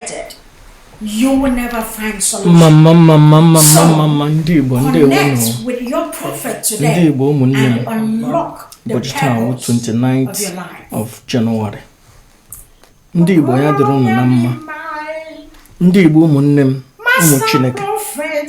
connected, you will never find solution. Mama, mama, mama, so, mama, ndị Igbo, ndị Igbo nọ. with your prophet today ndị Igbo ụmụnne m ụbọchị taa wụ 29th of January. Ndị Igbo ya dịrị ụnụ na mma. Ndị Igbo ụmụnne m, ụmụ Chineke.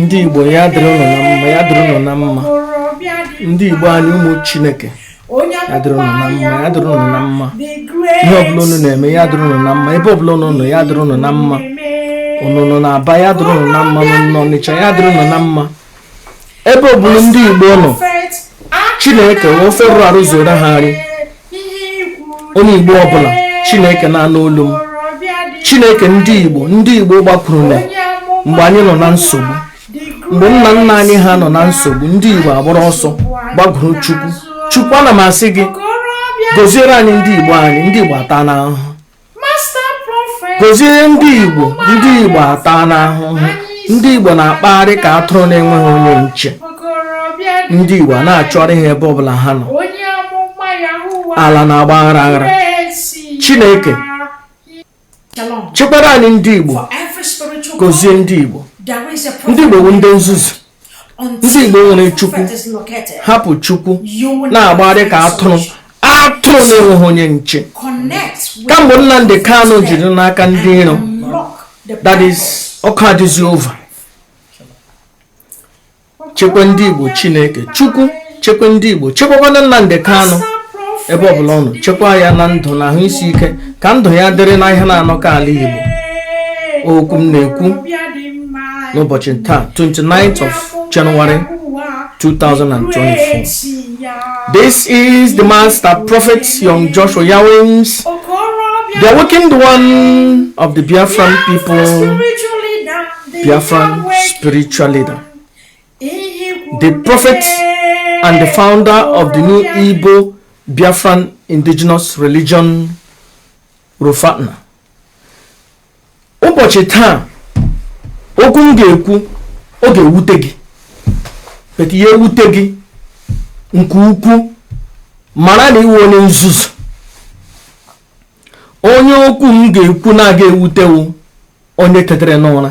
ndị igbo ya dịrị ụnụ na mma ya dịrị ụnụ na mma ndị igbo anyị ụmụ chineke ya dịrị ụnụ na mma ya dịrị ụnụ na mma ihe ọbụla ụnụ na-eme ya dịrị ụnụ na mma ebe ọbụla ụnụ nọ ya dịrị ụnụ na mma ụnụ nọ na aba ya dịrị ụnụ na mma ụnụ nọ n'ọnịcha ya dịrị ụnụ na mma ebe ọbụla ndị igbo nọ chineke were ofe rụrụ arụ zụọrọ ha nri onye igbo ọbụla chineke na-anụ olu m chineke ndị igbo ndị igbo gbakwuru na mgbe anyị nọ na nsogbu mgbe nna nna anyị ha nọ na nsogbu ndị igbo agbara ọsọ gbakwuru chukwu chukwu ana m asị gị gọziere anyị ndị igbo anyị ndị igbo ataana ahụhụ gọzie ndị igbo ndị igbo ataana ahụhụ ndị igbo na-akpagharị ka atụrụ na-enweghị onye nche ndị igbo na-achọrọ ihe ebe ọbụla ha nọ ala na-agba aghara aghara chineke chekwara anyị ndị igbo gọzie ndị igbo ndị igbo bụ ndị nzuzu ndị Igbo nwere Chukwu hapụ Chukwu na-agbagharị ka atụrụ atụrụ na-enweghị onye nche kamgbe Nnamdi Kanu ji dị n'aka ndị iro that is ọkụ adịzi over chekwa ndị Igbo Chineke Chukwu chekwa ndị igbo chekwakwana nnamdị kanụ ebe ọbụla ọ nọ chekwa ya na ndụ na ahụ isi ike ka ndụ ya dịrị na ihe na-anọ ka ala igbo okwu m na-ekwu n'ụbọchị taa 29th of January 2024 this is the master prophet young Joshua Yawins the awakened one of the Biafran people Biafran spiritual leader the prophet and the founder of the new Igbo Biafran indigenous religion Rufatna ụbọchị taa okwu m ga-ekwu ọ ga-ewute gị but ya wute gị nke ukwu mara na ị wụ onye nzuzu onye okwu m ga-ekwu na-agaghị ewute wụ onye tetere n'ụra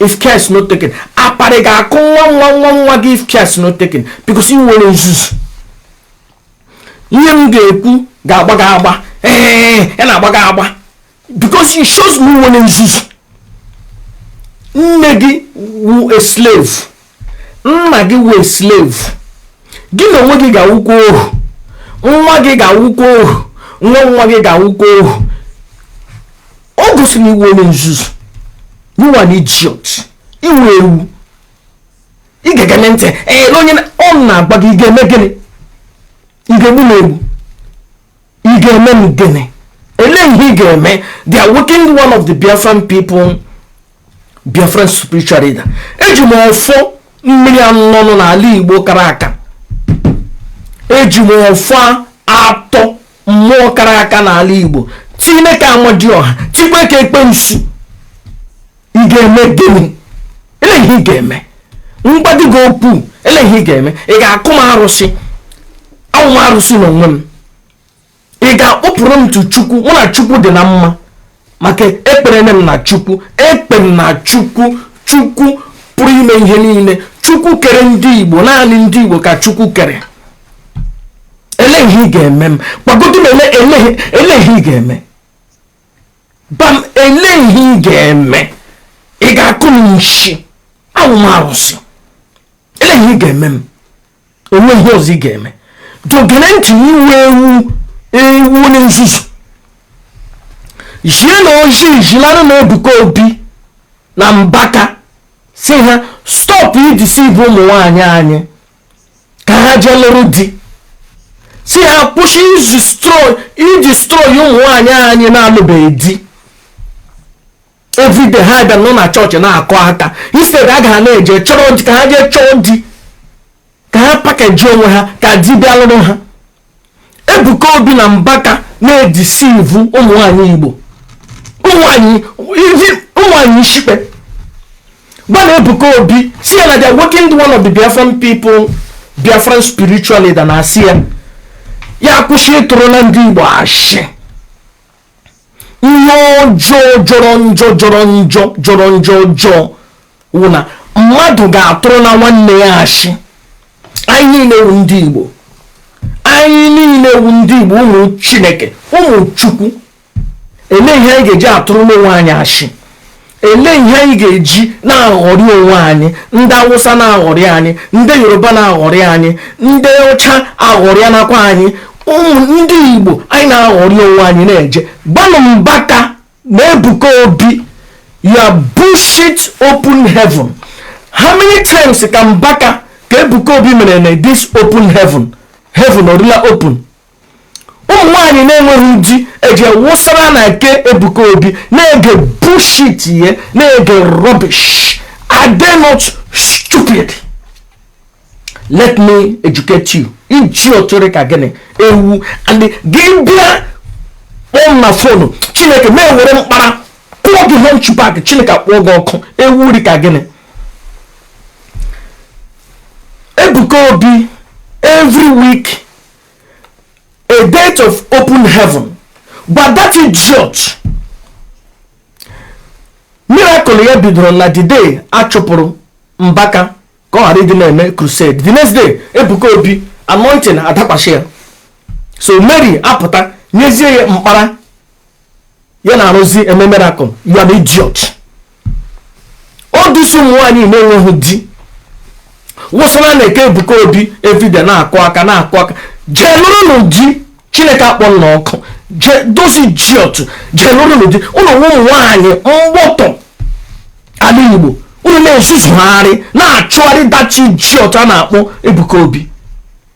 if care is not taken apari ga-akụ nwa nwa nwa nwa gị if care is not taken because ị nwere nzuzu ihe m ga-ekwu ga-agba gị agba ee ya na-agba gị agba because it shows na ị nwere nzuzu nne gị wụ a slave nna gị wụ a slave gị na onwe gị ga-awụkwa ohu nwa gị ga-awụkwa ohu nwa nwa gị ga-awụkwa ohu ọ gosiri ị wụ onye nzuzu you are an idiot ị wụ ewu ị ga-egene ntị ele onye ọ na-agba gị ị ga-eme gịnị ị ga-egbu m egbu ị ga-eme m gịnị ele ihe ị ga-eme they are working one of the biafran people biafran spiritual leader eji m ọfọ mmiri anụnụ n'ala igbo kara aka eji m ọfọ atọ mmụọ kara aka n'ala igbo tinye ka amadioha tikwe ka ekpensu ị ga-eme gịnị ele ihe ị ga-eme m gbadị gị okwu ele ihe ị ga-eme ị ga-akụ m arụsị awụ m arụsị n'onwe m ị ga-akpọpụrụ m tụ chukwu mụ na chukwu dị na mma maka ekpere m na chukwu ekpe m na chukwu chukwu pụrụ ime ihe niile chukwu kere ndị igbo naanị ndị igbo ka chukwu kere ele ihe ị ga-eme m gbagodu m ele ihe ị ga-eme gba m ele ihe ị ga-eme ị ga-akụ m nshi awụ m arụsị ele ihe ị ga-eme m o nwe ihe ọzọ ị ga-eme dọ gere ntị ị wụ ewu ị wụ onye nzuzu zienụ ozi zilanụ na ebuka obi na mbaka sị ha stop ideceive ụmụ nwaanyị anyị ka ha jee lụrụ di sị ha kwụsị idestroy ụmụ nwaanyị anyị na-alụbeghị di everyday ha bịa nọ na chọọchị na-akụ aka instead ha ga na-eje chọrọ di ka ha jee chọọ di ka ha package onwe ha ka di bịa lụrụ ha Ebuka Obi na Mbaka na-edeceive ụmụnwaanyị Igbo ụmụnwaanyị ishikpe gbanụ Ebuka Obi sị ya na they working one of the Biafran people Biafran spiritual leader na-asị ya ya kwụsị ịtụrụ na ndị Igbo ashị ihe ọjọọ jọrọ njọ jọrọ njọ jọrọ njọ ọjọọ wụ na mmadụ ga-atụrụ na nwanne ya ashị anyị niile wụ ndị Igbo anyị niile wụ ndị Igbo ụmụ Chineke ụmụ Chukwu ele ihe anyị ga-eji atụrụ n'onwe anyị ashị ele ihe anyị ga-eji na-aghọrị onwe anyị ndị awụsa na-aghọrị anyị ndị yoruba na-aghọrị anyị ndị ọcha aghọrịa nakwa anyị ụmụ ndị igbo anyị na-aghọrị onwe anyị na-eje gbanụ mbaka na ebuka obi your bullshit open heaven how many times ka mbaka ka ebuka obi mere na this open heaven heaven ọ rịla open ụmụ nwaanyị na-enweghị di ejee wụsara na nke ebuka obi na-ege bullshit ya na-ege rubbish are they not stupid let me educate you idiot rị ka gịnị ewu and gị bịa kpọọ m na fonu chineke ma ewere mkpara kụọ gị hunchback chineke kpọọ gị ọkụ ewu rị ka gịnị ebuka obi every week a date of open heaven but that idiot miracle ya bidoro na the day a chụpụrụ mbaka ka ọ ghara ịdị na-eme crusade the next day ebuka obi anointing adakwasị ya so mary apụta nyezie ya mkpara ya na-arụzi eme miracle you are an idiot ọ dị sọ ụmụ nwaanyị na-enweghị di wụsị na nke ebuka obi everyday na-akụ aka na-akụ aka jee lụrụnụ di chineke akpọ unu ọkụ those idiot jee lụrụnụ di unu wụ ụmụ nwaanyị mgbọtọ ala igbo unu na-ezuzugharị na-achụgharị that idiot a na-akpọ Ebuka Obi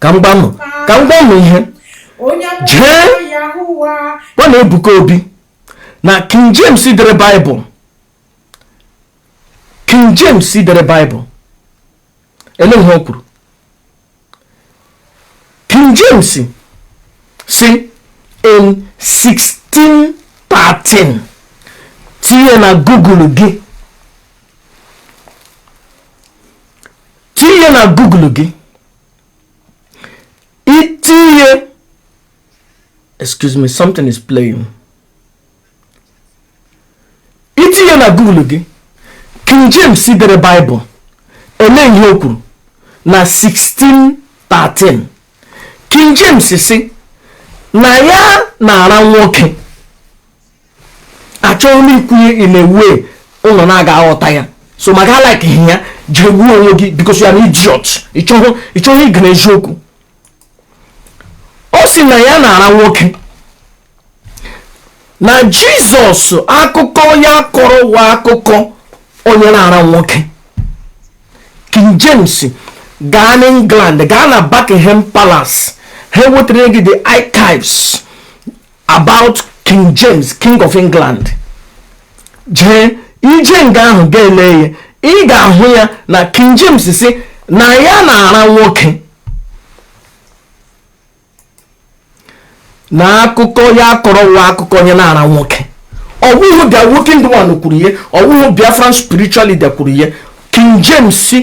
ka m gwa unu ka m gwa unu ihe jee gwanụ Ebuka Obi na King James dere Baịbụl King James dere Baịbụl ele ihe o kwuru King James si in 1613 tinye na Google gị tinye na google gị itinye excuse me something is playing itinye na google gị king james dere bible ele ihe o kwuru na 1613 king james si na ya na-ara nwoke achọghị m ikwu ya in a way unu na-aga aghọta ya so ma gaa like ihe a jee gbuo onwe gị because you are an idiot ị chọghị ige eziokwu ọ sị na ya na-ara nwoke na jizọs akụkọ ya kọrọ wụ akụkọ onye na-ara nwoke king james gaa n'england gaa na buckingham palace ha wetara gị the archives about king james king of england jee i jee nga ahụ gaa lee ya ị ga-ahụ ya na king james si na ya na-ara nwoke na akụkọ ya kọrọ wụ akụkọ onye na-ara nwoke ọ wụhụ the awakened one kwuru ya ọ wụhụ biafran spiritual leader kwuru ya King James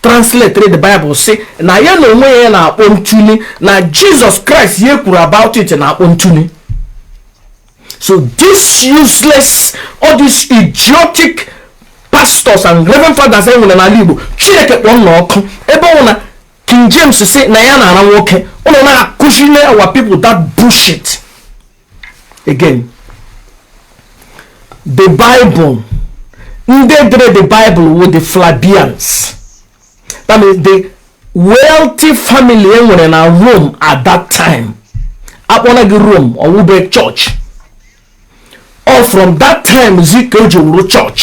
translated the Bible sị na ya na onwe ya na-akpọ ntuli na Jesus Christ ya kwuru about it na-akpọ ntuli so this useless all these idiotic pastors and reverend fathers e nwere n'ala Igbo Chineke kpọọ unu ọkụ ebe ọ wụ na King James sị na ya na-ara nwoke unu na-akụziri our people that bullshit again the bible ndị dere the bible wụ the Flavians that means the wealthy family e nwere na rome at that time akpọla gị rome ọ wụbeghị church ọ wụ from that time zi ka o ji wụrụ church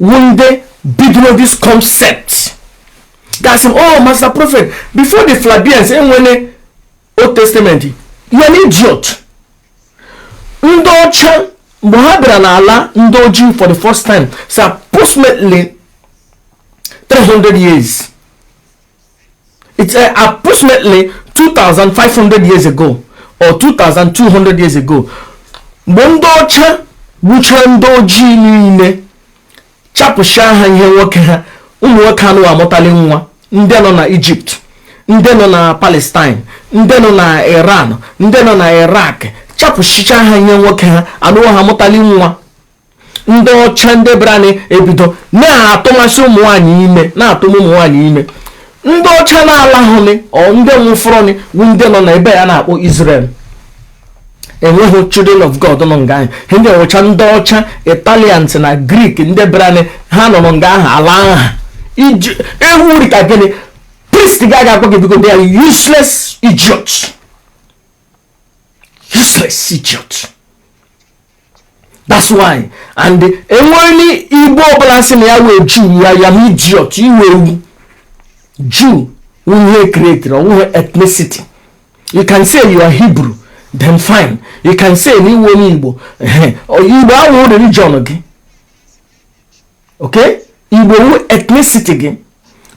When they bidoro this concept ga-asị m oh master prophet before the Flavians enwene old testament you're an idiot ndị ọcha mgbe ha bịara n'ala ndị ojii for the first time it's approximately 300 years it's uh, approximately 2500 years ago or 2200 years ago mgbe ndị ọcha gbuchara ndị ojii niile chapụcha ha ihe nwoke ha ụmụ nwoke anụ amụtali nwa ndị nọ na Egypt ndị nọ na palestine ndị nọ na iran ndị nọ na iraq chapụchicha ha ihe nwoke ha anụwa ha amụtali nwa ndị ọcha ndị brani ebido na-atụmasị ụmụ nwaanyị ime na-atụm ụmụ nwaanyị ime ndị ọcha na-alahụnị ọ ndị nwụfọrọnị bụ ndị nọ na ebe a na-akpọ Israel enweghị children of god nọ nga ahụ ndị ọcha ndị ọcha italians na Greek ndị brani ha nọrọ nga ahụ ala aha iji ewu rị ka gịnị priest ga-aga akpọ gị because they're useless idiots useless idiot that's why and enwere igbo ọbụla sị na ya wụ jew you're an idiot ị wụhụ jew ihe created ọ wụhụ ethnicity you can say you are hebrew then fine you can say na ị wụ onye igbo igbo awụhụ religion gị okay igbo wu ethnicity gị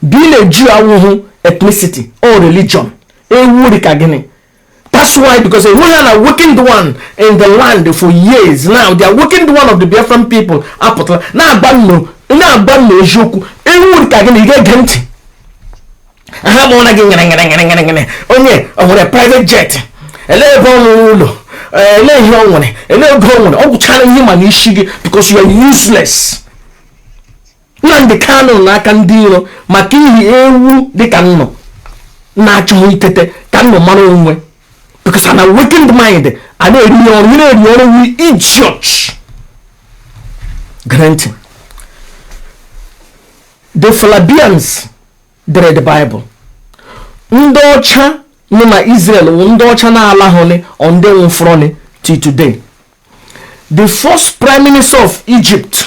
being a jew awụhụ ethnicity ọ wụ religion ewu dị ka gịnị That's why, because we had a wicked one in the land for years now. They are wicked one of the Biafran people. Apotla. Now, Banno. Now, Banno is Yoku. And who would again get Genti? I have one again. Only on a private jet. A little ele ihe ọ nwere ele ego ọ nwere ọ gwụchara ihe ma na isi gị because you are useless Nnamdi Kanu nọ n'aka ndị iro maka ihi ewu dịka unu na-achọghị itete ka unu mara onwe unu because an awakened mind a na-eri ihe ọrụ ị na-eri ọrụ wu idiot gere ntị the Flavians dere the Bible ndị ọcha nọ na Israel wụ ndị ọcha na-alahụnị ọ ndị nwụfọrọnị till today the first prime minister of egypt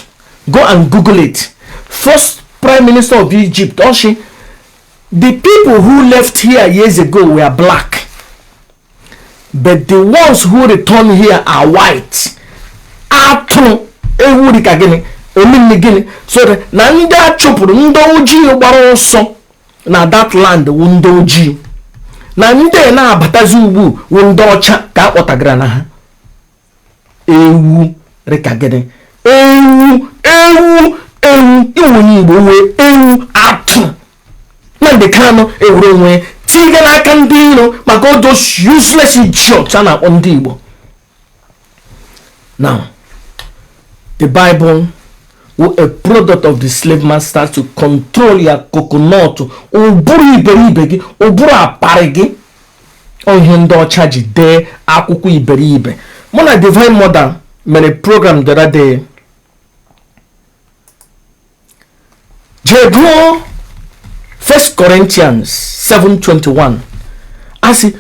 go and google it first prime minister of egypt ọ sị the people who left here years ago were black but the ones who return here are white atụrụ ewu dịka gịnị ọ mean gịnị so that na ndị a chụpụrụ ndị ojii gbara ọsọ na that land wụ ndị ojii na ndị na-abatazi ugbu wụ ndị ọcha ka a kpọtagara na ha ewu rịka gịnị ewu ewu ewu ị wụ onye igbo wụ ewu atụ Nnamdi Kanu ewere onwe ya tinye n'aka ndị iro maka all those useless idiots a na-akpọ ndị igbo now the bible was a product of the slave master to control your coconut ụbụrụ iberibe gị ụbụrụ aparị gị ihe ndị ọcha ji dee akwụkwọ iberibe mụ na divine mother mere program the other day jee gụọ first corinthians 7:21 asị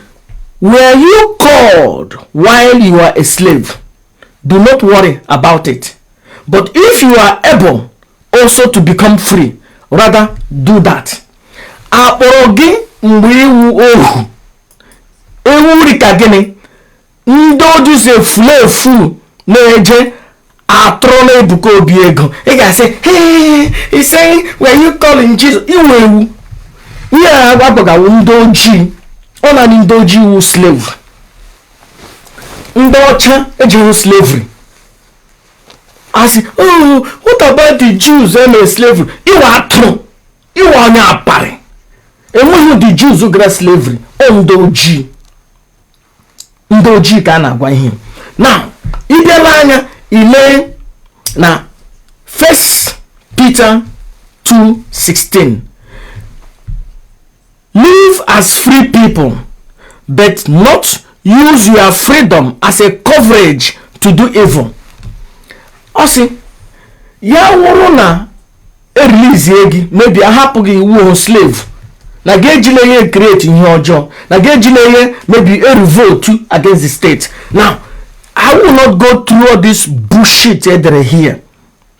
were you called while you are a slave do not worry about it but if you are able also to become free rather do that akpọrọ gị mgbe ị wụ ohu ewu rịka gịnị ndị ojii si efulefu na-eje atụrụ na Ebuka Obi ego ị ga-asị ise were you calling Jesus ị wụ ewu ihe a agbagawo ndị ojii ọ naanị ndị ojii wụ slave ndị ọcha ejehụ slavery asị oh what about the Jews eme slavery ị wụ atụrụ ị wụ onye aparị enweghị ndị Jews gara slavery ọ ndị ojii ndị ojii ka a na-agwa ihe now ị bịala anya ile na First Peter 2:16 Live as free people but not use your freedom as a coverage to do evil. Ọ sị ya wụrụ na e release gị maybe a hapụ gị ị wụ slave na gị ejila ihe create ihe ọjọọ na gị ejila ihe maybe a revolt against the state now I will not go through all this bullshit edere here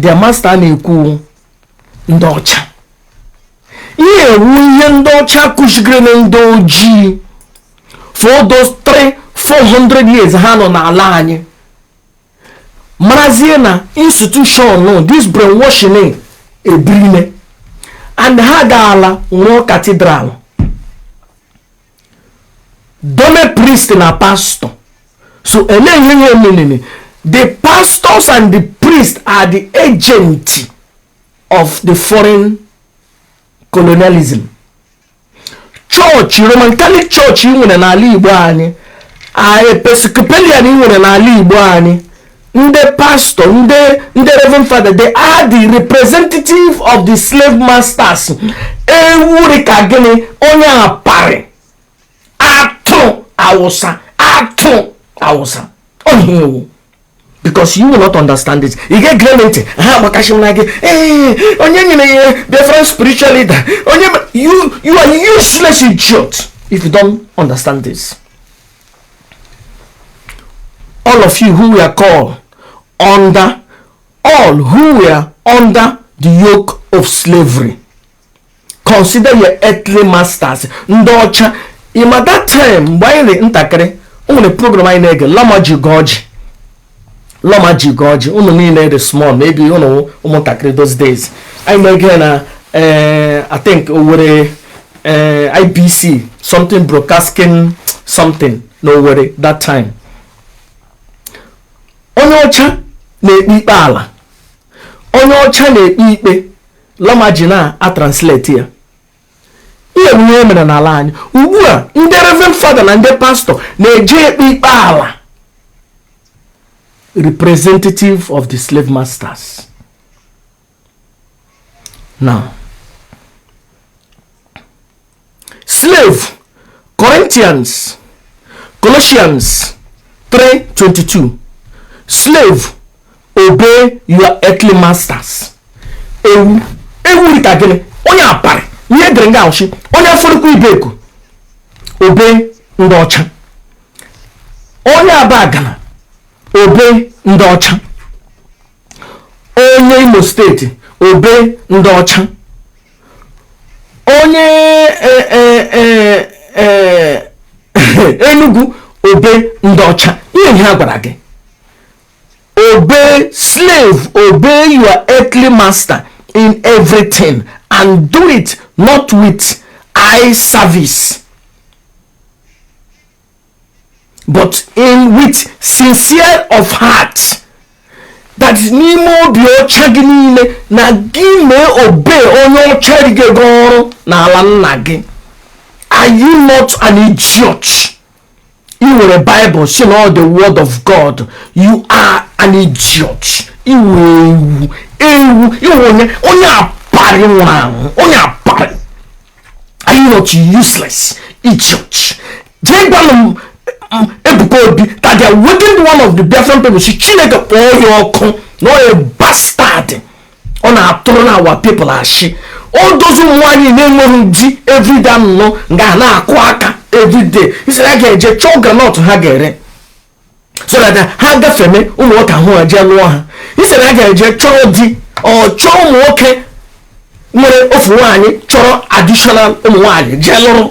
their master na-ekwu ndị ọcha ihe a wụ ihe ndị ọcha kụzigere na ndị ojii for those 3 400 years ha nọ n'ala anyị marazie na institution this brainwashing ebirine and ha gaala wuo cathedral dome priest na pastor so ele ihe ihe menene the pastors and the priest are the agent of the foreign colonialism church roman catholic church nwere n'ala igbo anyị a episcopalian nwere n'ala igbo anyị ndị pastọ ndị ndị reverend father they are the representative of the slave masters ewu rị ka gịnị onye aparị atụrụ awụsa atụrụ awụsa onye ewu because you will not understand it ị ga-egere m ntị ha agbakachi m na gị ee onye nyere ya different spiritual leader onye you you are useless idiot if you don't understand this all of you who were called under all who were under the yoke of slavery consider your earthly masters ndị ọcha ị ma that time mgbe anyị dị ntakịrị o nwere program anyị na-ege lomaji ugorji lomaji ugorji ụnụ niile dị small maybe ụnụ ụmụntakịrị those days anyị na-ege na eh, i think owere eh, ibc something broadcasting something na owere that time onye ọcha na-ekpe ikpe ala onye ọcha na-ekpe ikpe lomaji na-atranslate ya ihe bụ ihe mere n'ala anyị ugbu a ndị reverend fada na ndị pastọ na-eje ekpe ikpe ala representative of the slave masters now slave corinthians colossians 3:22 slave obey your earthly masters ewu ewu rịka gịnị onye aparị ihe e dere nga ọ shị onye afaraukwu ibeku obey ndị ọcha onye abagana obey ndị ọcha onye imo state obey ndị ọcha onye e, e, e, enugu obey ndị ọcha ihe ihe a gwara gị obey slave obey your earthly master in everything and do it not with eye service but with sincere of heart that is n'ime obi ọcha gị niile na gị mee obey onye ọcha ji gị oru n'ala nna gị are you not an idiot i were Bible sị na ọ the word of god you are an idiot ị wụ ewu ewu ị wụ onye onye aparị nwụrụ anwụ onye aparị are you not useless idiot jee gwanụ m Ebuka Obi that they are wicked one of the different people sị Chineke kpọọ ya ọkụ na onye bastard ọ na-atụrụ nụ our people ashị o dozi ụmụ nwaanyị na-enweghị di everyday anọ nga na-akụ aka everyday instead ha ga-eje chọọ groundnut ha ga-ere so that ha gafeme ụmụ nwoke ahụ ha jee lụọ ha instead ha ga-eje chọọ di or chọọ ụmụ nwoke nwere ofu nwaanyị chọrọ additional ụmụ nwaanyị jee lụrụ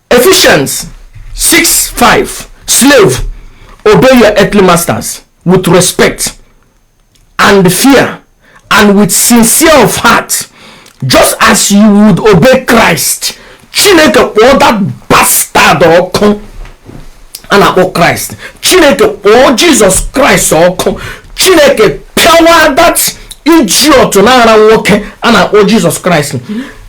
Ephesians 6 5 Slave, obey your earthly masters with respect and fear and with sincere of heart just as you would obey Christ chineke kpọọ that bastard ọkụ a na-akpọ Christ chineke kpọọ Jesus Christ ọkụ chineke pịawa that idiot na-ara nwoke a na-akpọ Jesus Christ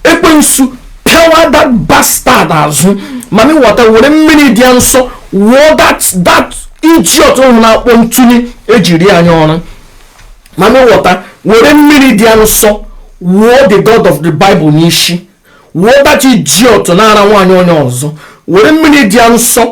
ekwensu pịawa that bastard azụ mami wọta were mmiri dị ya nsọ wụọ that that idiot ọhụ a na-akpọ ntụnye e ji rie anyị ọrụ mami wọta were mmiri dị ya nsọ wụọ the god of the bible n'isi wụọ that idiot na-ara nwaanyị onye ọzọ were mmiri dị ya nsọ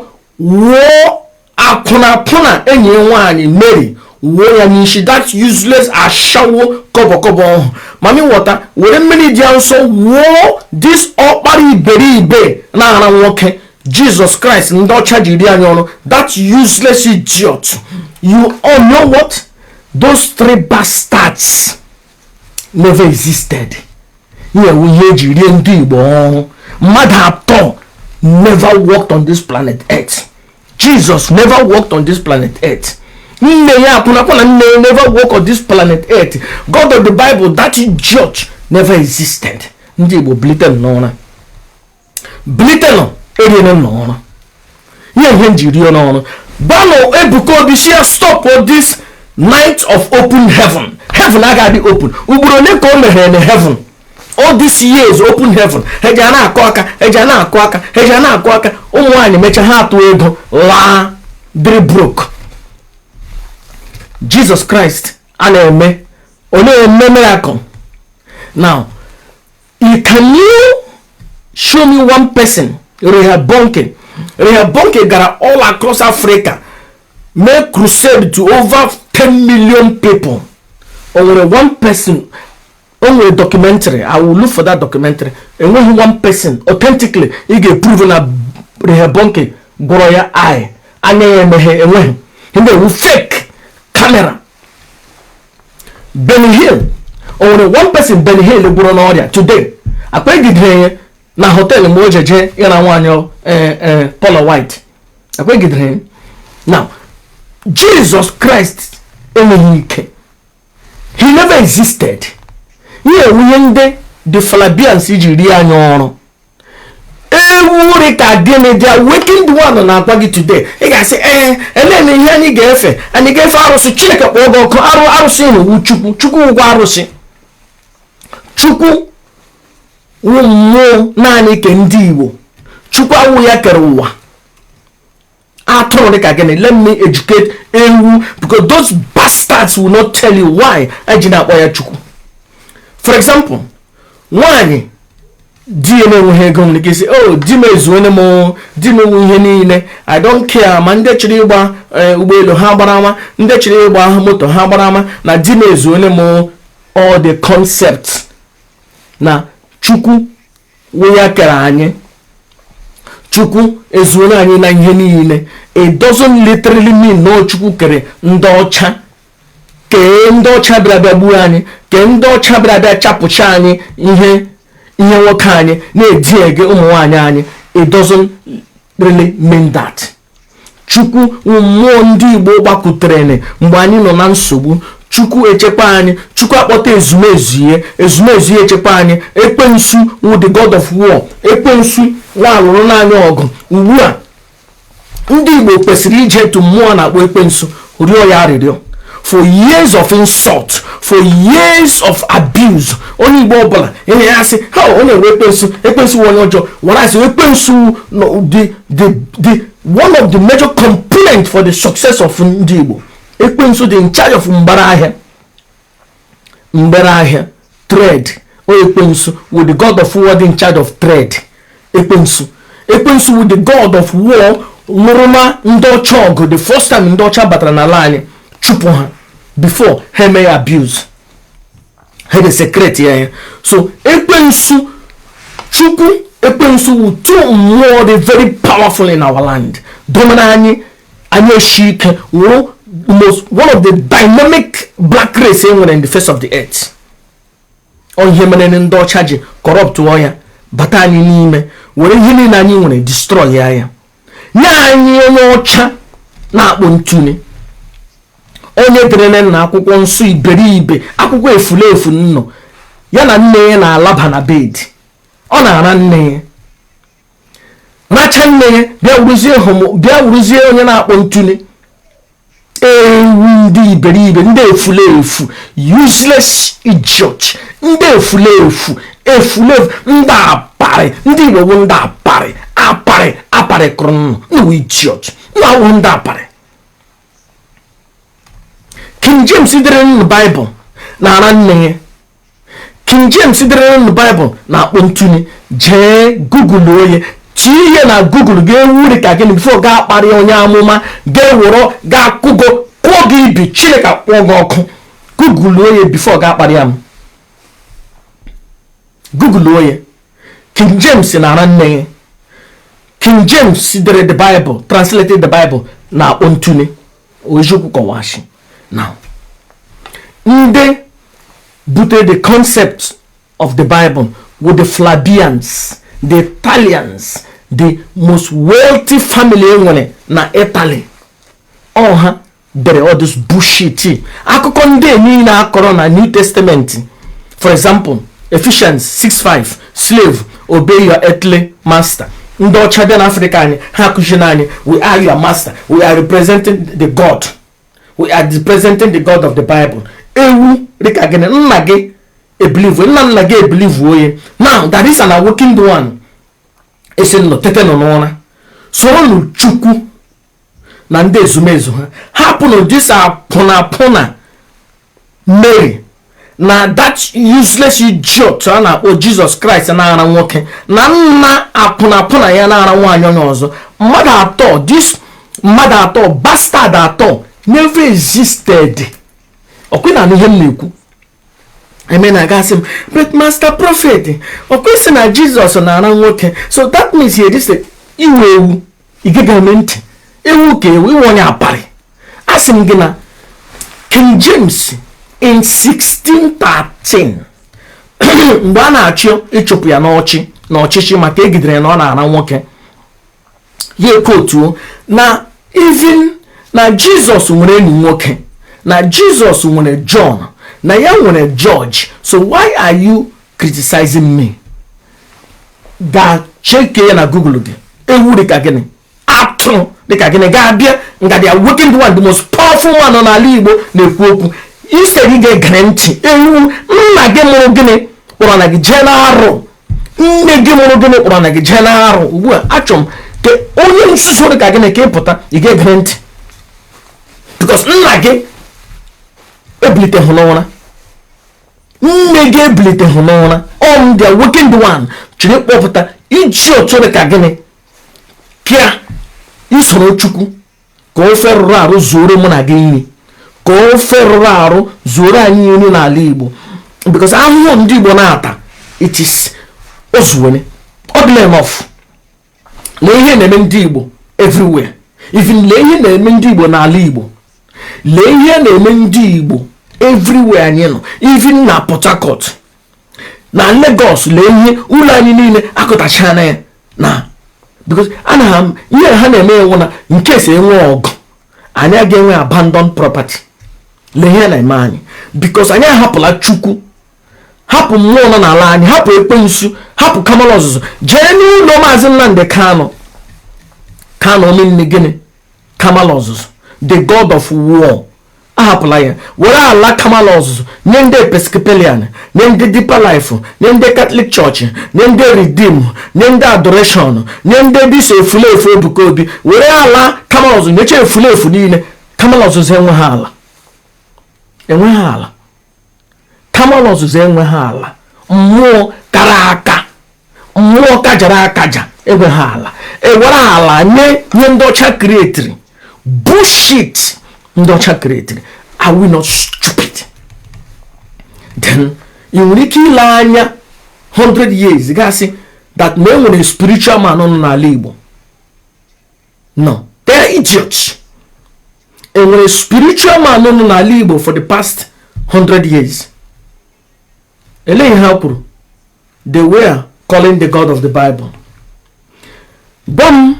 wụọ akwụnakwụna enyi ya nwaanyị mary wụọ ya n'isi that useless ashawo kọbọkọbọ ọhụ mami wọta were mmiri dị ya nsọ wụọ this ọkpara iberibe na-ara nwoke jesus christ ndị ọcha ji rie anyị ọrụ that useless idiot you all know what those three bastards never existed ihe wụ ihe e ji rie ndị igbo ọrụ mmadụ atọ never walked on this planet earth jesus never walked on this planet earth nne ya akwụnakwụna nne ya never walk on this planet earth god of the bible that idiot never existed ndị igbo bilite n'ụra bilitenụ e riri unu ọrụ ihe ha ji rie unu ọrụ gwanụ ebuka obi sị ya stop this night of open heaven heaven agaghị open ugboro ole ka o meghere na heaven all these years open heaven eji a na-akụ aka eji a na-akụ aka eji a na-akụ aka ụmụ nwaanyị mechaa ha atụ ego laa dịrị broke jesus christ a na-eme ọ na-eme miracle now You can you show me one person Reinhard Bonnke Reinhard Bonnke gara all across Africa mee crusade to over 10 million people o nwere one person o nwere documentary I will look for that documentary enweghị one person authentically ị ga-eprove na Reinhard Bonnke gwọrọ ya eye anya ya emeghe enweghị ndị ewu fake camera Benny Hinn o nwere one person Benny Hinn gwọrọ n'ọrịa today akpagidere ya na hotel mgbe o ji jee ịra nwaanyị eh, eh, Paula White akpagidere ya now Jesus Christ enweghị ike he never existed ihe a wụ ihe ndị the Flavians ji rie anya ọrụ ewu rị ka gịnị the awakened one na-agwa gị today ị ga-asị ee elee na ihe anyị ga-efe anyị ga-efe arụsị chineke kpọọ gị ọkụ arụ arụsị wụ chukwu chukwu wụkwa arụsị chukwu wụ mmụọ naanị ke ndị igbo chukwu awụ ya kere ụwa atụrụ dịka gịnị let me educate ewu because those bastards will not tell you why eji na-akpọ ya chukwu for example nwanyị di ya na-enweghị ego nwere ike ịsị o oh, di m ezuone m di m nwe ihe niile i don't care ma ndị chọrọ ịgba eh, ụgbọelu ha gbara ma ndị chọrọ ịgba moto ha gbara mana di m ezuone m all the concept na chukwu wụ ya kere anyị chukwu ezuola anyị na ihe niile it doesn't literally mean na chukwu kere ndị ọcha kee ndị ọcha bịara bịa gbuo anyị kee ndị ọcha bịara bịa chapụcha anyị ihe ihe nwoke anyị na-edi ege ụmụ nwaanyị anyị it doesn't really mean that chukwu wụ mmụọ ndị igbo gbakutere na mgbe anyị nọ na nsogbu chukwu echekwa anyị chukwu akpọta ezumezu ya ezumezu ya echekwa anyị ekwensu wụ the god of war ekwensu nwa alụrụna anyị ọgụ ugbu a ndị igbo kwesịrị ije to mmụọ na-akpọ ekwensu rịọ ya arịrịọ for years of insult for years of abuse onye igbo ọbụla enye ya asị ha onye wụ ekwensu ekwensu wụ onye ọjọọ wara asị ekwensu no, the, the, the, one of the major component for the success of ndị igbo ekwensu dị in charge of mgbere ahịa mgbere ahịa trade ọ ekwensu wụ the god of war dị in charge of trade ekwensu ekwensu wụ the god of war lụrụ ma ndị ọcha ọgụ the first time ndị ọcha batara n'ala anyị chụpụ ha before ha eme ya abuse ha desecrate ya ya so ekwensu chukwu ekwensu wụ two mmụọ dị very powerful in our land domina anyị anyị eshi ike wụrụ most one of the dynamic black race enwere in the face of the earth ọ ihe mere ndị ọcha ji corrupt ya bata anyị n'ime were ihe niile anyị nwere destroy ya ya nye anyị onye ọcha na-akpọ ntụne onye derele na akwụkwọ nsọ iberibe akwụkwọ efulefu nnọ ya na nne ya na-alaba na bed ọ na-ara nne ya racha nne ya bịa wuruzie hom bịa wuruzie onye na-akpọ ntụne ewu ndị iberibe ndị efulefu useless idiot ndị efulefu efulefu ndị aparị ndị igbo bụ ndị aparị aparị aparị kụrụ nnụ nnewu idiot nna awụ ndị aparị king james dere nụ baịbụl na-ara nne ya King James dere nụ Baịbụl na-akpọ ntụne jee gụgụlụọ ya tinye na gụgụlụ ga-ewuri ka gị bifo gị akparị onye amụma ga-ewụrọ ga-akụgo kụọ gị ibi Chineke akpọọ gị ọkụ gụgụlụọ ya bifo gị akparị ya m gụgụlụọ ya King James na-ara nne ya King James dere the Bible translated the Bible na-akpọ ntụne eziokwu kọwachi na ndị butere the concept of the bible wụ the flavians the italians the most wealthy family enwere na italy ọ ha dere all this bullshit akụkọ ndị niile akọrọ na new testament for example Ephesians 6:5 slave obey your earthly master ndị ọcha bịa n'afrịka anyị ha akụziri anyị we are your master we are representing the god we are representing the god of the bible ewu dịka gị na nna gị ebilivu nna nna gị ebilivu onye now that is an awakened one asị nụ tetenụ n'ụra soronụ chukwu na ndị ezumezu ha hapụnụ this akwụnakwụna mary na that useless idiot a na-akpọ jizọs kraịst na-ara nwoke na nna akwụnakwụna ya na-ara nwaanyị onye ọzọ mmadụ atọ this mmadụ atọ bastard atọ never existed ọkwa ị na-anụ ihe m na-ekwu eme na ị ga-asị m but master prophet ọkwa ị sị na jizọs na-ara nwoke so that means he exist ị wụ ewu ị geghị m ntị ewu ka ị wụ ị wụ onye aparị asị m gị na king james in 1613 mgbe a na-achọ ịchụpụ ya n'ọchị na ọchịchị maka egidere ya na ọ na-ara nwoke ya ekwutuo na even na jizọs nwere enyi nwoke na jizọs nwere john na ya nwere george so why are you criticizing me ga cheke ya na google gị ewu dịka gịnị atụ dịka gịnị ga-abịa nga the awakened one the most powerful man nọ n'ala igbo na-ekwu okwu instead ị ga-egere ntị ewu nna gị mụrụ gịnị kpọrọ na gị jee na-arụ nne gị mụrụ gịnị kpọrọ na gị jee na-arụ ugbu a achọ m ka onye nzuzu dị ka gịnị ka ị pụta ị ga-egere ntị because nna gị ebilitehụ n'ụra nne gị ebiliteghị n'ụra ọ m the awakened one chiri kpọpụta iji otu dịka gịnị pịa isoro chukwu ka ofe rụrụ arụ zuoro mụ na gị nri ka ofe rụrụ arụ zuoro anyị nri n'ala igbo because ahụhụ ndị igbo na-ata it is ozuwene ọ dịla enough lee ihe na-eme ndị Igbo everywhere even lee ihe na-eme ndị Igbo n'ala Igbo lee ihe na-eme ndị Igbo everywhere anyị nọ even na Port Harcourt na Lagos lee ihe ụlọ anyị niile akụtachana ya na because ihe ha na-eme wụ na in case enwe ọgụ anyị aga enwe abandon property lee ihe na-eme anyị because anyị ahapụla Chukwu hapụ mmụọ nọ n'ala anyị hapụ ekwensu hapụ kamala ọzụzụ jee n'ụlọ maazị nnamdị kanụ kanụ omenni gịnị kamala ọzụzụ the god of war ahapụla ya were ala kamala ọzụzụ nye ndị episcopalian nye ndị deeper life nye ndị catholic church nye ndị redeem nye ndị adoration nye ndị this efulefu ebuka obi were ala kamala ọzụzụ nyecha efulefu niile kamala ọzụzụ enweghị ala kamala ọzụzụ enweghị ala mmụọ kara aka mmụọ kajara akaja enweghị ala ewere ala nye nye ndị ọcha kiretiri bullshit ndị ọcha kiretiri are we not stupid then ị nwere ike ile anya 100 years gasị that na enwere spiritual man nọ n'ala Igbo no they are idiots enwere spiritual man nọ n'ala igbo for the past 100 years ele ihe ha kwuru they were calling the god of the bible gwa m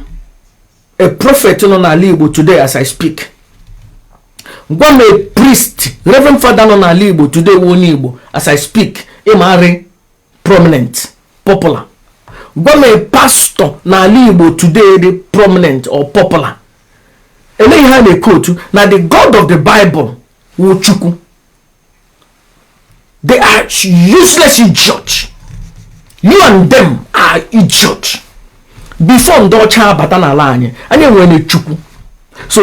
a prophet nọ n'ala igbo today as i speak gwa m a priest reverend father nọ n'ala igbo today onye igbo as i speak ịmarị prominent popular gwa m a pastor n'ala igbo today dị prominent or popular ele ihe ha na-ekwu otu na the god of the bible wụ chukwu they are useless idiots you and them are idiot before ndị ọcha abata n'ala anyị anyị nwere chukwu so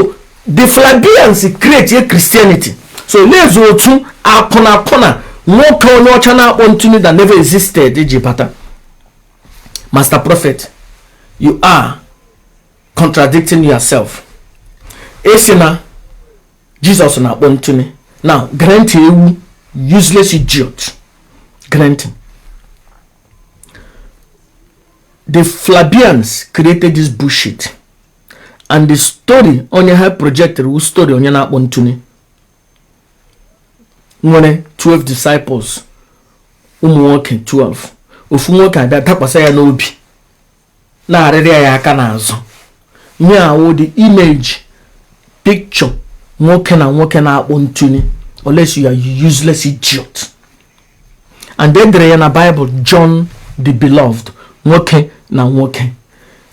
the flavians created christianity so lezie otu akwụnakwụna nwoke onye ọcha na-akpọ ntu nị that never existed ji bata master prophet you are contradicting yourself ị sị na Jesus na-akpọ ntu nị now grant ewu useless idiot granting the flavians created this bullshit and the story onye ha projected wụ story onye na-akpọ ntu nị nwere 12 disciples ụmụ nwoke 12 ofu nwoke abịa dakwasa ya n'obi na-arịrị ya aka n'azụ ihe a wụ the image picture nwoke na nwoke na-akpọ ntu nị unless you are useless idiot and e dere ya na Bible John the Beloved nwoke na nwoke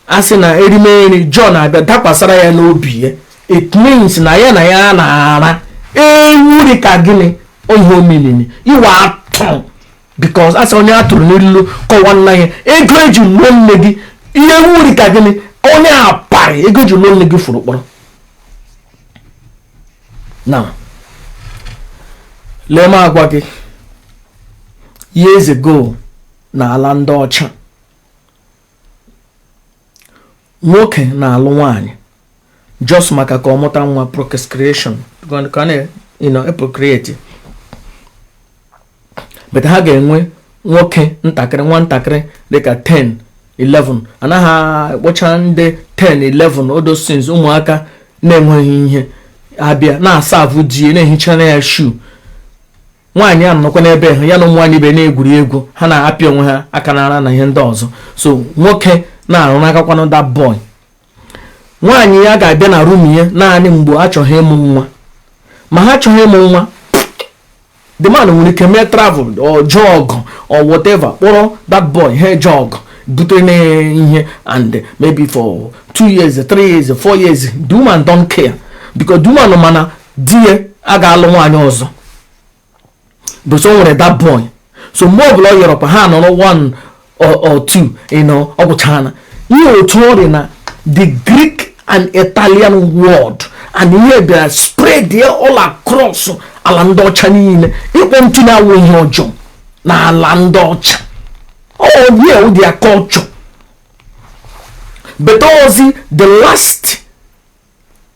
a sị na erimeri John abịa dakwasara ya n'obi ya it means na ya na ya na-ara ewu rị ka gị nị ihe omilili ị wụ atụrụ because a sị onye a tụrụ n'ilu kọwaara ya ego eji lụọ nne gị ewu rị ka gị nị onye apari ego eji lụọ nne gị furu ukporo now lee m agwa gị years ago na ala ndị ọcha nwoke na-alụ nwanyị just maka ka ọ mụta nwa procreation ka ha procreate but ha ga-enwe nwoke ntakịrị nwa ntakịrị dịka 10 11 anaghị akpọcha ndị 10 11 adolescents ụmụaka na-enweghị ihe abịa na-aserve di ya na-ehichara ya shoe nwaanyị a nọkwa n'ebe ha ya na ụmụ nwaanyị ibe na-egwuri egwu ha na-apịa onwe ha aka n'ara na ihe ndị ọzọ so nwoke na-arụ n'akakwanụ that boy nwaanyị ya ga-abịa na room ya naanị mgbe a chọgha ịmụ nwa ma ha achọghị ịmụ nwa the man nwere ike mee travel or jee ọgụ or whatever kpọrọ that boy ahụ jee ọgụ bute na ihe and maybe for two years three years four years the woman don't care because the woman ma na di ya aga alụ nwaanyị ọzọ because o nwere that boy so mgbe ọbụla ọ yọrọkwa ha nọrọ one or two ịnọ ọ gwụchana ihe otu ọ dị na the Greek and Italian world and ihe bịara spread ya all across ala ndị ọcha niile ịkpọ ntu nị awụ ihe ọjọọ na ala ndị ọcha ọ ya wụ their culture but ozi the last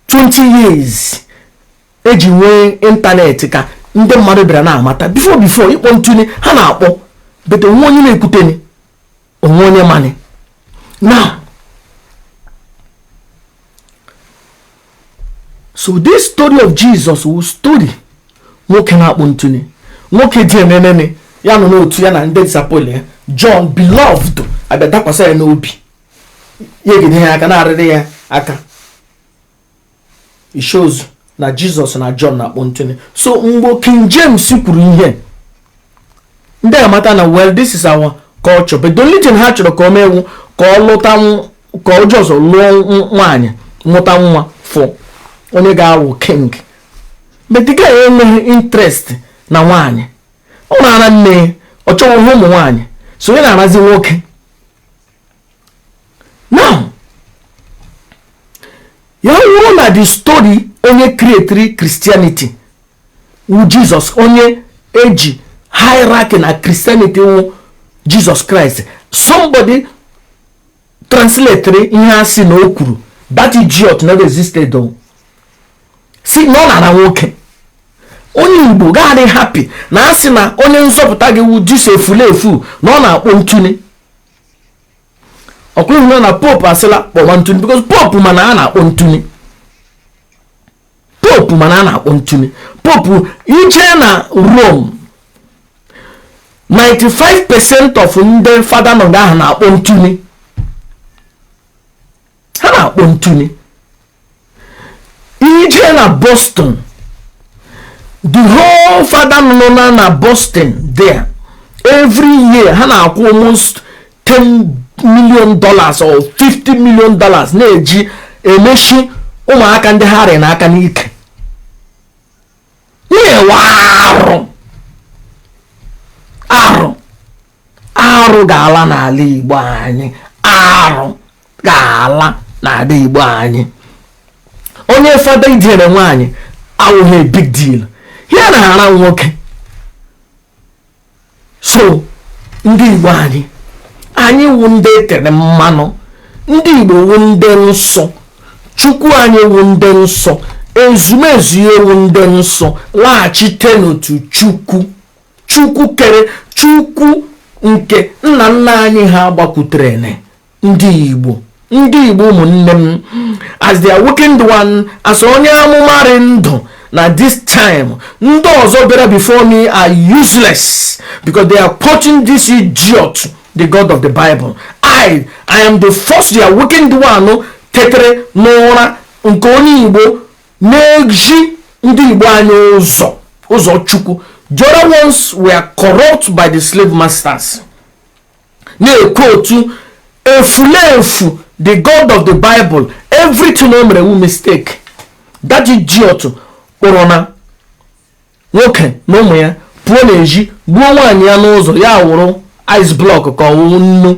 20 years eji nwee internet ka ndị mmadụ bịara na-amata before before ịkpọ ntụ nị ha na-akpọ but o nwe onye na-ekwuteni o nwe onye mani now so this story of Jesus wu story nwoke na-akpọ ntụ nị nwoke dị emenene ya nọ n'otu ya na ndị disciple ya John beloved abịa dakwasa ya n'obi ya egide ya aka na-arịrị ya aka it shows na jesus na john na-akpọ ntụ nị so mgbe king james kwuru ihe ndị amata na well this is our culture but the only thing ha chọrọ ka o mee wụ ka ọ lụta ka ọ just lụọ nwaanyị mụta nwa for onye ga-awụ king but the guy enweghị interest na nwaanyị ọ na-ara nne ọ chọghị ụmụ nwaanyị so ya na-arazi nwoke now ya wụrụ na the story onye createre christianity wu jesus onye eji hierarchy na christianity wu jesus christ somebody translatere ihe a sị na o kwuru that idiot never existed o sị na ọ na-ara nwoke onye igbo ga-adị happy na a sị na onye nzọpụta gị wu this efulefu na ọ na-akpọ ntụ nị ọkwa ịhụna na popu asịla kpọwa ntụ nị because pope ma na a na-akpọ ntụ nị pope ma na a na-akpọ ntụ nị pope ị jee na rome 95 percent of ndị fada nọ nga ahụ na-akpọ ntụ nị ha na-akpọ ntụ nị ị jee na boston the whole fada nọ na na boston there every year ha na-akwụ almost 10 million dollars or 50 million dollars na-eji emechi ụmụaka ndị ha rị n'aka n'ike na-ewe arụ arụ arụ ga-ala n'ala Igbo anyị arụ ga-ala n'ala Igbo anyị onye fada idere nwaanyị awụghị big deal ya na-ara nwoke so ndị Igbo anyị anyị wụ ndị e tere mmanụ ndị Igbo wụ ndị nsọ Chukwu anyị wụ ndị nsọ ezumezu anyị wụ ndị nsọ laghachite n'otu Chukwu chukwu kere chukwu nke nna nna anyị ha gbakwutere ndị igbo ndị igbo ụmụnne m as the awakened one as onye amụma rị ndụ na this time ndị ọzọ bịara before me are useless because they are quoting this idiot the god of the bible i i am the first the awakened one tetere n'ụra nke onye igbo na-ezi ndị igbo anyị ụzọ ụzọ chukwu the other ones were corrupt by the slave masters na-ekwu otu efulefu the god of the bible everything o mere wu mistake that idiot kpọrọ na nwoke na ụmụ ya pụọ n'ezi gbuo nwaanyị ya n'ụzọ ya awụrụ ice block ka ọ wụ nnu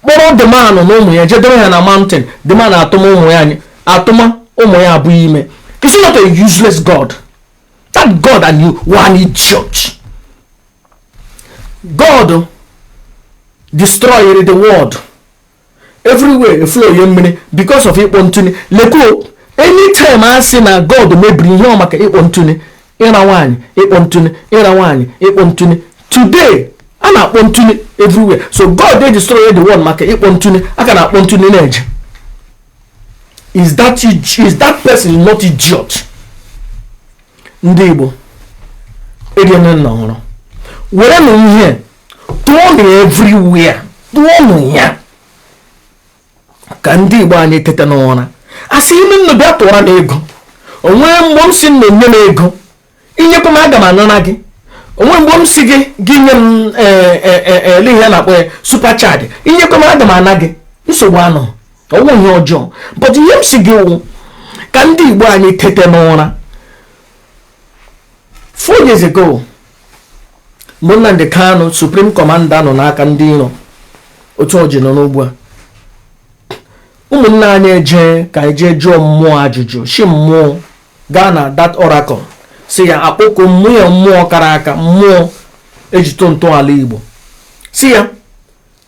kpọrọ the man na ụmụ ya jedebe ha na mountain the man atụma ụmụ ya atụma ụmụ ya abụọ ime is he not a useless god that god and you were an idiot god destroyed the world everywhere eflow ya mmiri because of ịkpọ ntụ lekuo anytime a sị na god mebiri ihe ọ maka ịkpọ ntụ ịra nwaanyị ịkpọ ntụ ịra nwaanyị ịkpọ ntụ today a na-akpọ ntụ everywhere so god dey destroy the world maka ịkpọ ntụ a ka na-akpọ ntụ na-eje is that is that person not idiot ndị igbo eriene nnụ hụrụ were nụ ihe tụọ nụ everywhere tụọ nụ ya ka ndị igbo anyị tete n'ụra asịhị m nnụ bịa tụọra m ego o nwee mgbe m si nnụ nye m ego i nyekwa m aga m anara gị o nwe mgbe m si gị gị nye m e, e, e, ele ihe na-akpọ ya super chat i nyekwa m aga m ana gị nsogbu anọ ọ wụ ihe ọjọọ but ihe m si gị wụ ka ndị igbo anyị tete n'ụra four years ago mgbe Nnamdi Kanu supreme commander nọ n'aka ndị iro otu o ji nọ n'ugbu a ụmụnne anyị eje ka e jee jụọ mmụọ ajụjụ si mmụọ gaa na that oracle si ya akpọkuo mmụọ mmụọ kara aka mmụọ e ji tọọ ntọala Igbo si ya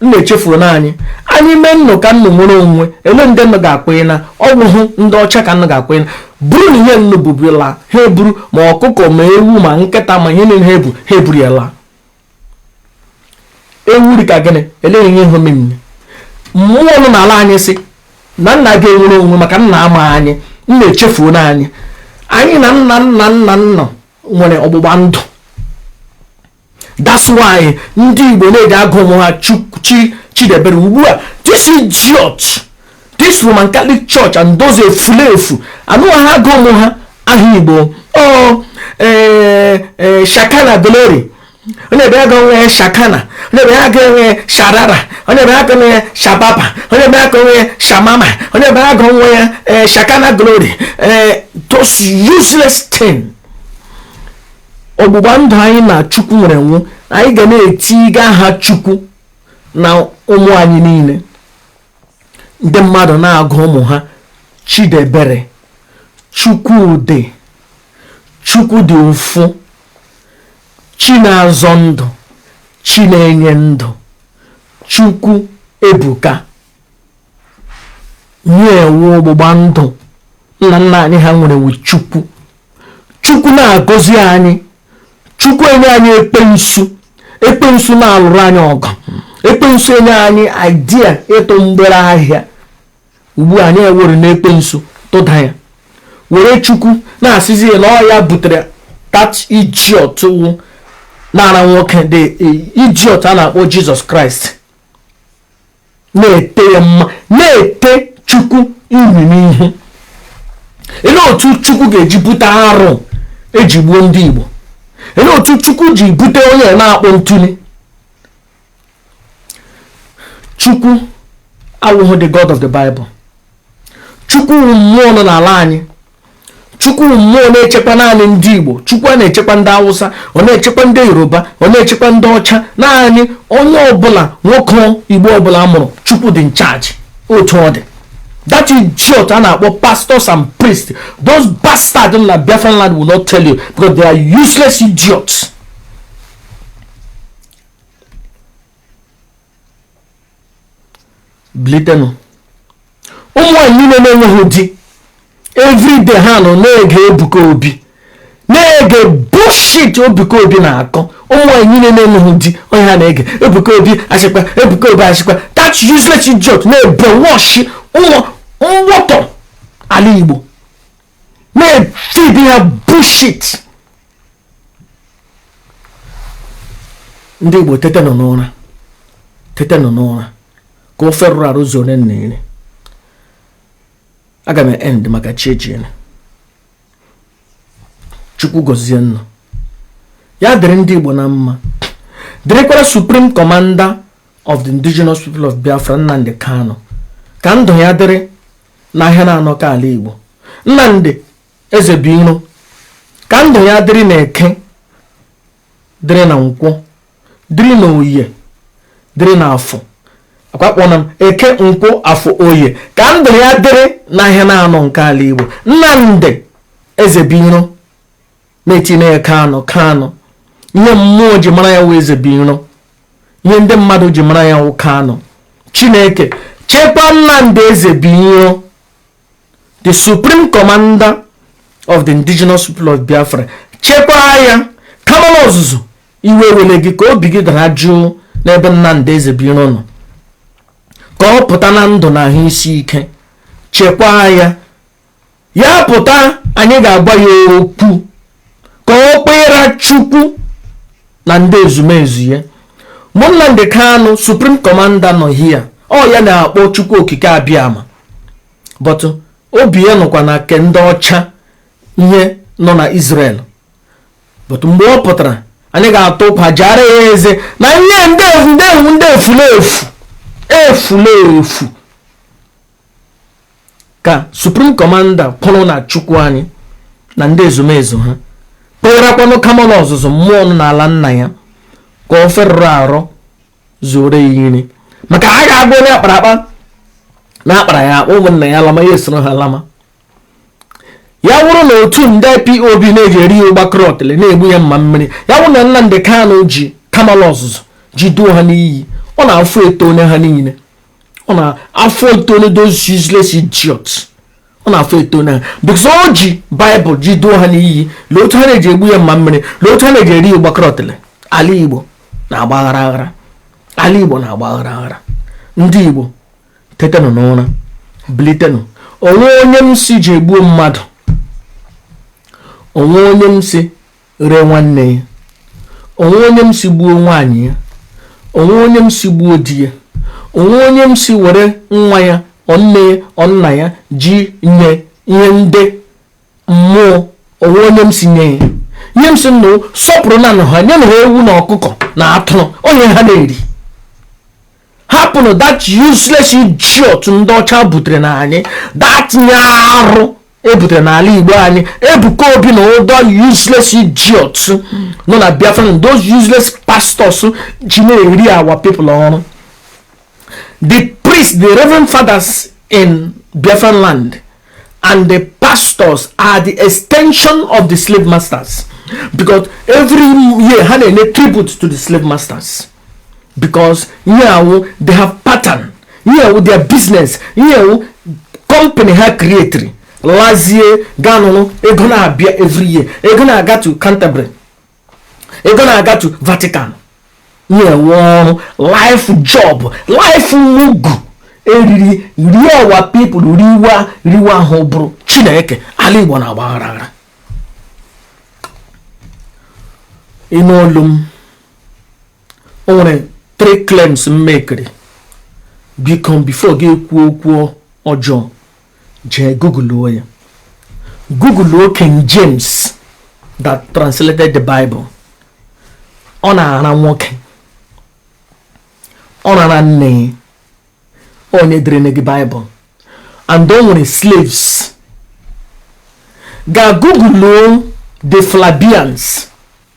nnụ echefuona anyị anyị mee nnụ ka nnụ nwere onwe ele ndị nnụ ga-akwenye na ọ bụhụ ndị ọcha ka nnụ ga-akwenye na buru nụ ihe nnụ bu bịa laa ha eburu ma ọkụkọ ma ewu ma nkịta ma ihe niile ha ebu ha eburu ya laa ewu dị ka gịnị eleghị ihe ihe omemine mmụọ nọ n'ala anyị si na nnụ agaghị enwere onwe maka nnụ ama anyị nnụ echefuona anyị anyị na nna nna nna nnụ nwere ọgbụgba ndụ that's why ndị igbo na-eji agụ ụmụ ha chi chidebere ugbu a this idiot this roman catholic church and those efulefu anaghị agụ ụmụ ha aha igbo ọ oh, eh, eh, shakana glory onye ebe a agụọ nwa ya shakana onye ebe a agụọ nwa ya sharara onye ebe a agụọ nwa ya shababa onye ebe a agụọ nwa ya shamama onye ebe a agụọ nwa ya eh, shakana glory those useless things ọgbụgba ndụ anyị na chukwu nwere wụ anyị ga na-etiga aha chukwu na ụmụ anyị niile ndị mmadụ na-agụ ụmụ ha chidebere chukwudị chukwu dị ụfụ chi na-azọ ndụ chi na-enye ndụ chukwu ebuka nye wụ ọgbụgba ndụ nna nna anyị ha nwere wu chukwu chukwu na-agọzi anyị chukwu enye anyị ekpensu ekpensu na-alụrụ anyị ọgụ ekpensu enye anyị idea ịtụ mgbere ahịa ugbu a anyị ewerena ekpensu tụda ya were chukwu na-asịzi na ọ ya butere that idiot wụ nara nwoke the idiot a na-akpọ jesus christ na-ete ya mma na-ete chukwu inyi n'ihu ele otu chukwu ga-eji bute arụ eji gbuo ndị igbo ele otu chukwu ji bute onye na-akpọ ntuli chukwu awụghị the god of the bible chukwu mmụọ nọ n'ala anyị chukwu mmụọ na-echekwa naanị ndị igbo chukwu a na-echekwa ndị awụsa ọ na-echekwa ndị yoruba ọ na-echekwa ndị ọcha naanị onye ọbụla nwoke igbo ọbụla a mụrụ chukwu dị in charge otu ọ dị that idiot a na-akpọ pastors and priests those bastards na biafran land will not tell you because they are useless idiots bilitenụ ụmụ nwaanyị niile na-enweghị di everyday ha nọ na-ege Ebuka Obi na-ege bullshit Ebuka Obi na-akọ ụmụ nwaanyị niile na-enweghị di ihe ha na-ege Ebuka Obi asịkwa Ebuka Obi asịkwa that useless idiot na-ebrainwash ụmụ mgbọtọ ala Igbo na-efeed ya bullshit ndị Igbo tetenụ n'ụra tetenụ n'ụra ka ofe rụrụ arụ zuo onye nna ire aga m end maka chi ejiene chukwu gọzie ụnụ ya dịrị ndị igbo na mma dịrịkwara supreme commander of the indigenous people of biafra nnamdị kanu ka ndụ ya dịrị n'ahịa naanọ ke ala Igbo Nnamdị Ezebiro ka ndụ ya dịrị na eke dịrị na nkwọ dịrị na oye dịrị na afọ akwakpọna m eke nkwọ afọ oye ka ndụ ya dịrị n'ahịa naanọ nke ala Igbo Nnamdị Ezebiro na-etinye ya kanụ kanụ ihe mmụọ ji mara ya wụ ezebiro ihe ndị mmadụ ji mara ya wụ kanụ chineke chekwa nnamdị ezebiro the supreme commander of the indigenous people of biafra chekwaa ya kamanụ ọzụzụ iwe ewela gị ka obi gị dara jụụ n'ebe nnamdị ezebiro nọ ka ọ pụta na ndụ na ahụ isi ike chekwaa ya ya pụta anyị ga-agwa ya okwu ka ọ kpera chukwu na ndị ezumezu ya Nnamdi Kanu supreme commander nọ hia ọ ya na-akpọ chukwu okike abịama but obi ya nọkwa na ke ndị ọcha ihe nọ na Israel but mgbe ọ pụtara anyị ga-ata ụkwa jara ya eze na ihe ndị efulefu efula efu ka supreme commander kwụrụ na chukwu anyị na ndị ezumezu ha kperakwanụ kamalụ ọzụzụ mmụọ nọ n'ala nna ya ka ofe rụrụ arụ zuoro ya iri maka a ga-agụ onye akpara akpa na akpara ya akpa ụmụnna ya lama ya esoro ha lama ya wụrụ na otu ndị ipob na-eji eri ya ụgba krọtịlị na-egbu ya mma mmiri ya wụrụ na Nnamdi Kanu ji kamalụ ọzụzụ ji duo ha n'iyi ọ na afọ etone ha niile ọ na afọ etone those useless idiots ọ na afọ etone ha because o ji bible ji duo ha n'iyi lee otu ha na-eji egbu ya mma mmiri lee otu ha na-eji eri ya ụgba krọtịlị ala igbo na-agba aghara aghara ala igbo na-agba aghara aghara ndị igbo tetenụ n'ụra bilitenụ o nwe onye m sị je gbuo mmadụ o nwe onye m sị ree nwanne ya o nwe onye m sị gbuo nwaanyị ya o nwe onye m sị gbuo di ya o nwe onye m sị were nwa ya ọ nne ya ọ nna ya je nye ihe ndị mmụọ o nwe onye m sị nye ya ihe m sị nụ sọpụrụnanụ ha nyenụ ha ewu na ọkụkọ na atụrụ ọ ihe ha na-eri hapụnụ that useless idiot ndị ọcha butere na anyị that ihe arụ e butere n'ala igbo anyị ebuka obi na other useless idiots nọ na biafra those useless pastors ji na-ere our people oru the priests the reverend fathers in biafran land and the pastors are the extension of the slave masters because every year ha na-enye tribute to the slave masters because ihe a wụ they have pattern ihe a wụ their business ihe a wụ company ha creatiri lazie ga nọrọ ego na-abịa every year ego na-aga to Canterbury ego na-aga to Vatican ihe a wụ ọrụ life job life mugu e riri rie our people riwa riwa ahụ bụrụ chineke ala igbo na-agba aghara aghara ịnụ olu m o nwere three claims m makeri biko before gị kwuo okwu ọjọọ jee googleluo ya googleluo King James that translated the Bible ọ na-ara nwoke ọ rara nne onye deere gị Bible and o nwere slaves ga googleluo the Flavians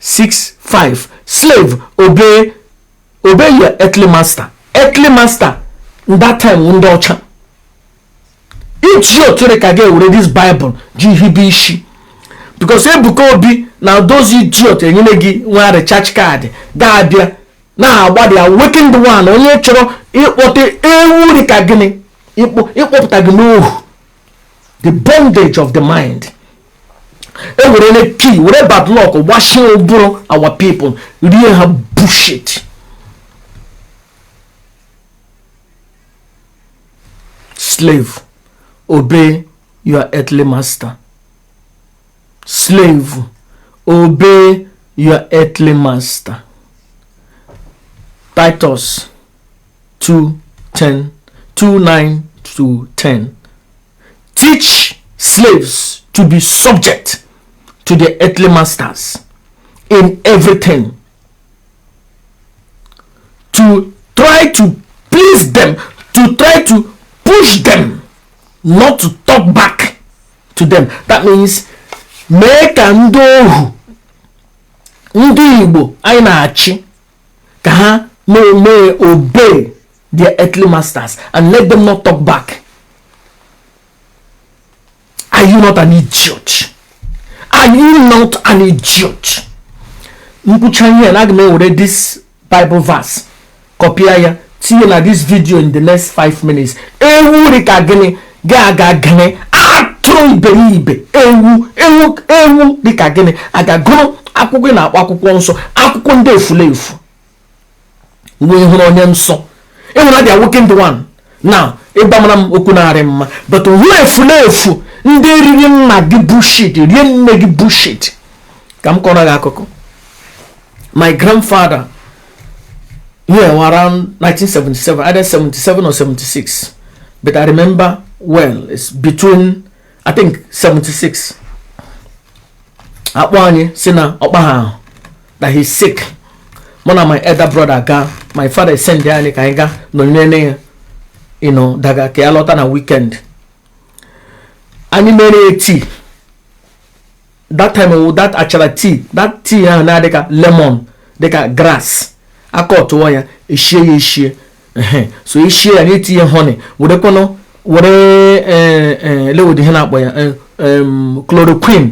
6 5 slave obey obey your earthly master earthly master that time wụ ndị ọcha idiot dị ka gị ewere this bible ji hibe isi because ebuka obi na those idiot e nyere gị nwa recharge card ga-abịa na-agbadi awakened one onye chọrọ ịkpọta ewu dị ka gịnị ịkpọpụta gị n'ohu the bondage of the mind e were ne key were badlock gbachie ụbụrụ our people rie ha bushit slave obey your earthly master slave obey your earthly master titus 2 10 2 9 to 10 teach slaves to be subject to their earthly masters in everything to try to please them to try to push them not to talk back to them that means mee ka ndị ohu ndị igbo anyị na-achị ka ha mee obey their earthly masters and let them not talk back are you not an idiot are you not an idiot m kwucha ihe a aga m ewere this bible verse copia ya tinye na this video in the next 5 minutes ewu dị ka gịnị gị aga gịnị atụrụ iberibe ewu ewu ewu dị ka gịnị aga gụrụ akwụkwọ ị na-akpọ akwụkwọ nsọ akwụkwọ ndị efulefu wee hụrụ onye nsọ ị hụrụ the awakened one na ị gbamara m okwu na-arị mma but hụ efulefu ndị riri nna gị bullshit rie nne gị bullshit ka m kọrọ gị akụkọ my grandfather here around 1977, either 77 or 76. But I remember well, it's between, I think, 76. A kpọọ anyị sị na ọkpa that he's sick. One of my elder brother ga, my father esendie anyị ka anyị gaa nọnyere ya you know, daga ka ya lọta na weekend. Anyị mere eti that time wụ that achara tea that tea ahụ na-adị ka lemon dị ka grass aka ọtụọ ya eshie ya eshie so eshie ya na-etinye honey werekwanụ were eh, eh, lewodi ihe na-akpọ ya eh, chloroquine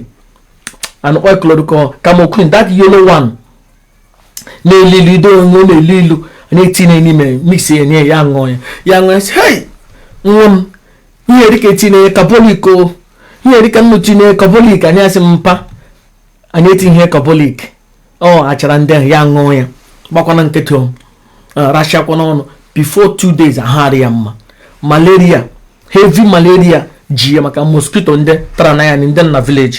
and oil chloroquine camoquine that yellow one na-elu ilu that one na-elu ilu na-etinye n'ime mix ya nye ya ṅụọ ya ya ṅụọ ya sị hei nwa m ihe dịka etinye ya carbolic o ihe dịka unu tinye carbolic anyị asị mpa anyị etinyeghị carbolic ọ achara ndị ahụ ya ṅụọ ya gbakwana nkịtị o rachakwa n'ọnụ before two days ahụ adị ya mma malaria heavy malaria ji ya maka mosquito ndị tara na ya ndị na village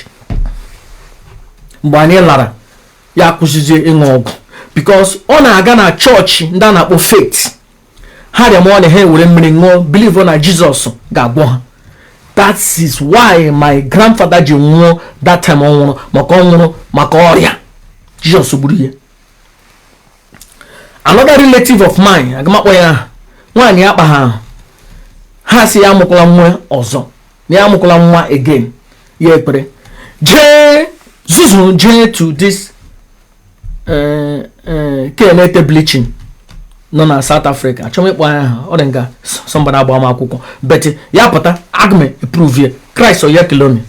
mgbe anyị lara ya kwụsịzie ịṅụ ọgwụ because ọ na-aga na church ndị a na-akpọ faith ha rịamanụ ha ewere mmiri ṅụọ believe na Jesus ga-agwọ ha that is why my grandfather ji nwụọ that time ọ nwụrụ maka ọ nwụrụ maka ọrịa Jesus gburu ya another relative of mine agam akpọ ya aha nwaanyị akpa ha ahụ ha sị ya amụkwala nwa ọzọ na ya amụkwala nwa again ya ekpere jee zuzuru jee to this eh, eh, nke na-ete bleaching nọ na South Africa achọm ịkpọ ya aha ọ dị nga somebody agba m akwụkwọ but ya pụta aga m e-prove ya Chris Oyakhilome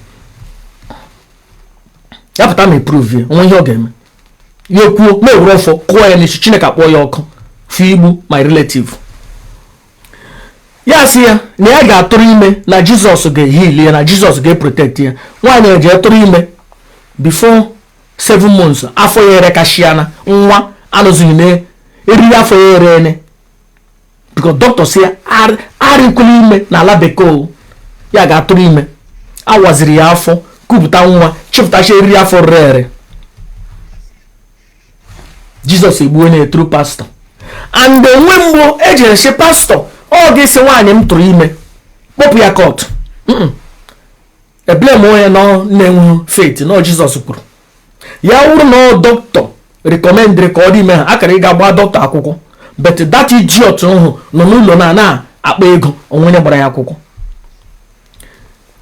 ya pụta m e-prove ya onwe ihe ọ ga-eme ya ekwuo m ewere ọfọ kụọ ya n'isi Chineke akpọọ ya ọkụ for igbu my relative ya sị ya na ya ga-atụrụ ime na Jesus ga-eheal ya na Jesus ga-eprotect ya nwaanyị ejee tụrụ ime before 7 months afọ ya erekashịana nwa anwụzie na eriri afọ ya ere ene because doctor sị ya arịkwula ime na ala bekee ya gaa tụrụ ime awaziri ya afọ kupụta nwa chịpụtacha eriri afọ rere ere Jesus egbuona through pastor and onwe mgbe ejere sị pastor ọ ga-asị nwaanyị m tụrụ ime kpọpụ ya court e-blame onye nọ na-enweghị faith na Jesus kwuru ya wụrụ na doctor recommendịrị ka ọ dị ime ha akara ịga gbaa doctor akwụkwọ but that idiot ahụ nọ n'ụlọ na na-akpa ego onwe onye gbara ya akwụkwọ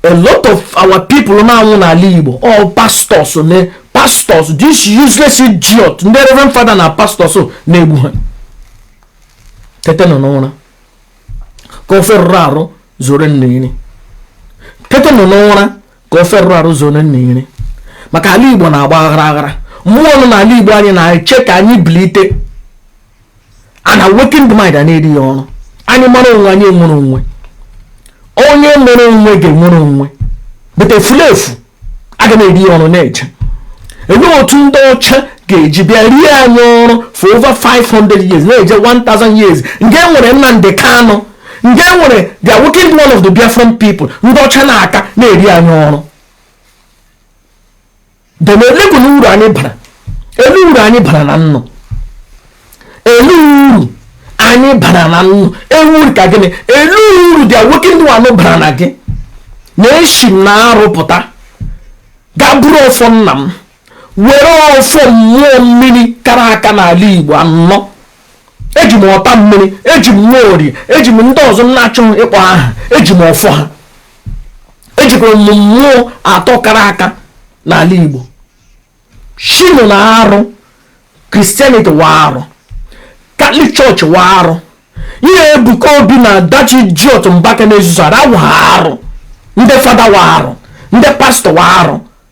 a lot of our people na-anwụ n'ala igbo ọ pastors na pastors this useless idiot ndị reverend father na pastors na-egbu ha tetenụ n'ụra ka ofe rụrụ arụ zuoro unu iri tetenụ n'ụra ka ofe rụrụ arụ zuoro unu iri maka ala igbo na-agba aghara aghara mmụọ nọ n'ala igbo anyị na-eche ka anyị bilite an awakened mind a na-eri ya ọrụ anyị mara onwe anyị nwere onwe onye nwere onwe ga-enwere onwe but efulefu a ga na-eri ya ọrụ na-eje enwe otu ndị ọcha ga-eji bịa rie anyị ọrụ for over 500 years na-eje 1000 years nke nwere Nnamdi Kanu nke nwere the awakened one of the Biafran people ndị ọcha na-aka na-eri anyị ọrụ then eleekwanụ uru anyị bara elee uru anyị bara na ndụ elee uru anyị bara na ndụ elee uru ka gịnị elee uru the awakened one bara na gị na-esi m na arụ pụta ga buru ọfọ nna m were ọfọ mmụọ mmiri kara aka n'ala igbo anọ eji m Otammiri eji m Nwaorie eji m ndị ọzọ m na-achọghị ịkpọ aha eji m ọfọ ha ejikwara m mmụọ atọ kara aka n'ala igbo shinu na arụ Christianity wụ arụ Catholic Church wụ arụ ihe Ebuka Obi na that idiot Mbaka na-ezuzu ara wụ arụ ndị fada wụ arụ ndị pastor wụ arụ